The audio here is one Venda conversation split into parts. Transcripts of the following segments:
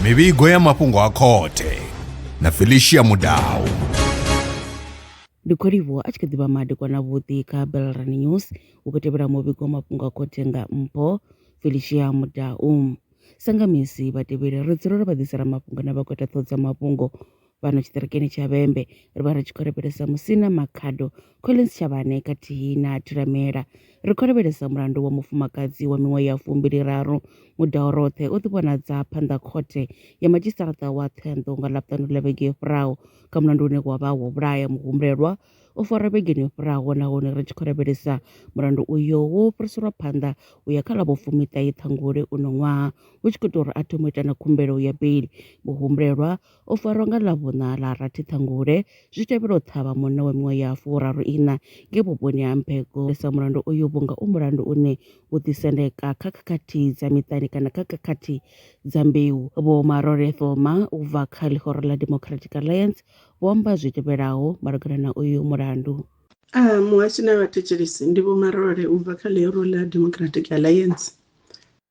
mivhigo ya mafhungo a khothe na felicia mudau ndi kholivo a tshi kha ḓivha madekwana vhuḓi kha belran news u khou tevhela muvhigo wa mafhungo a khothe nga mpho felicia mudau sangamisi vhatevheli ri dzula ro vha ḓisela mafhungo na vha khou ita ṱhoho dza mafhungo Fhano tshiṱirikini tsha Vhembe, ri vha ri tshi khou lavhelesa musina Makhado Collins Shavhane khathihi na Thulamela. Ri khou lavhelesa mulandu wa mufumakadzi wa miṅwaha ya fumbiliraru Mudaoroṱhe o ḓi vhonadza phanḓa khothe ya madzhisiṱaraṱa wa Thohoyandou nga Ḽavhuṱanu ḽa vhege yo fhiraho kha mulandu une wa vha wo vhulaya muhumbulelwa o farwa vhegeni yo fhiraho nahone ri tshi khou lavhelesa mulandu uyo wo fhiriselwa phanḓa u ya kha ḽa vhofumiṱahe Ṱhangule uno ṅwaha hu tshi khou ita uri a thome u ita na khumbelo ya beli muhumbulelwa O farwa nga Ḽavhuṋa ḽa rathi ṱhangule zwi tevhela u ṱhavha munna wa miṅwaha ya furaru iṋa ngei vhuponi ha Mphego sa mulandu uyu vhunga u mulandu une u ḓisendeka kha khakhathi dza miṱani kana kha khakhathi dza mbeu. Vho Marole Thoma u bva kha ḽihoro ḽa Democratic Alliance vho amba zwi tevhelaho malugana na uyu mulandu. A, Muhashi na vhathetshelesi, ndi Vho Marole u bva kha ḽihoro ḽa Democratic Alliance.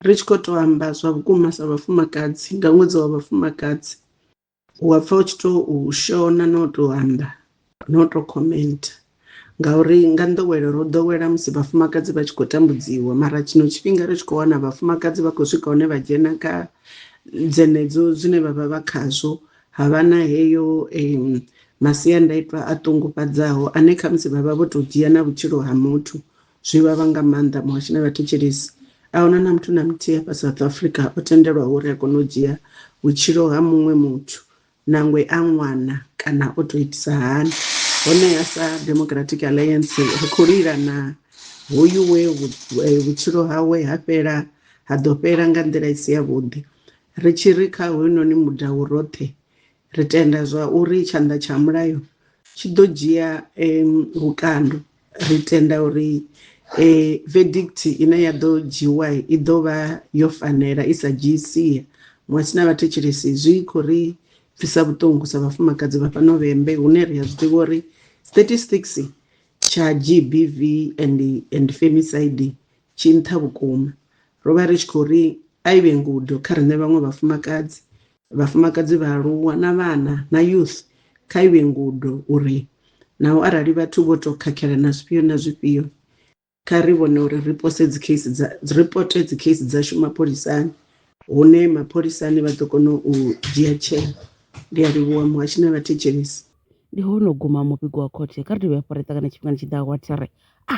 ri tshi khou tou amba zwa vhukuma sa vhafumakadzi nga ṅwedzi wa vhafumakadzi u wa pfha u tshi tou shona na u tou amba na u tou comment ngauri nga nḓowelo ro ḓowela musi vhafumakadzi vha tshi khou tambudziwa mara tshino tshifhinga ri tshi khou wana vhafumakadzi vha khou swika hune vha dzhena kha dzenedzo zwine vha vha vha khazwo ha vha na heyo masiandaitwa a ṱungufhadzaho ane khamusi vha vha vho tou dzhia na vhutshilo ha muthu Zwi vhavha nga maanḓa muhashi na vhathetshelesi. A huna na muthu na muthihi hafha South Africa o tendelwaho uri a kone u dzhia vhutshilo ha muṅwe muthu nangwe a ṅwana kana o tou itisa hani. Honeha sa Democratic Alliance ri khou lila na hoyu we vhutshilo hawe ha fhela ha ḓo fhela nga nḓila i si yavhuḓi. Ri tshi ri kha hoyunoni mudau roṱhe ri tenda zwa uri tshanḓa tsha mulayo tshi ḓo dzhia vhukando Ri tenda uri e, vedikthi ine ya ḓo dzhiwa i ḓo vha yo fanela, i sa dzhii sia. Muṅwe si na vhathetshelesi zwi khou ri pfisa vhuṱungu sa vhafumakadzi vha fhano vhembe hune ri a zwi ḓivha uri statistics tsha GBV and, and femicide tshi nṱha vhukuma. Ro vha ri tshi khou ri a i vhe ngudo kha riṋe vhaṅwe vhafumakadzi vhafumakadzi, vhaaluwa na vhana na youth kha i vhe ngudo uri naho arali vhathu vho tou khakhela na zwifhio na zwifhio, kha ri vhone uri ri pose dzikhesi dza ripote dzikhesi dzashu mapholisani hune mapholisani vha ḓo kona u dzhia tsheo. Ndi a livhuwa muhashi na vhathetshelesi. Ndi hono guma muvhigo wa khothe. Kha ri dovhe hafhu ra ṱangane tshifhingani tshi ḓaho wa thri. A.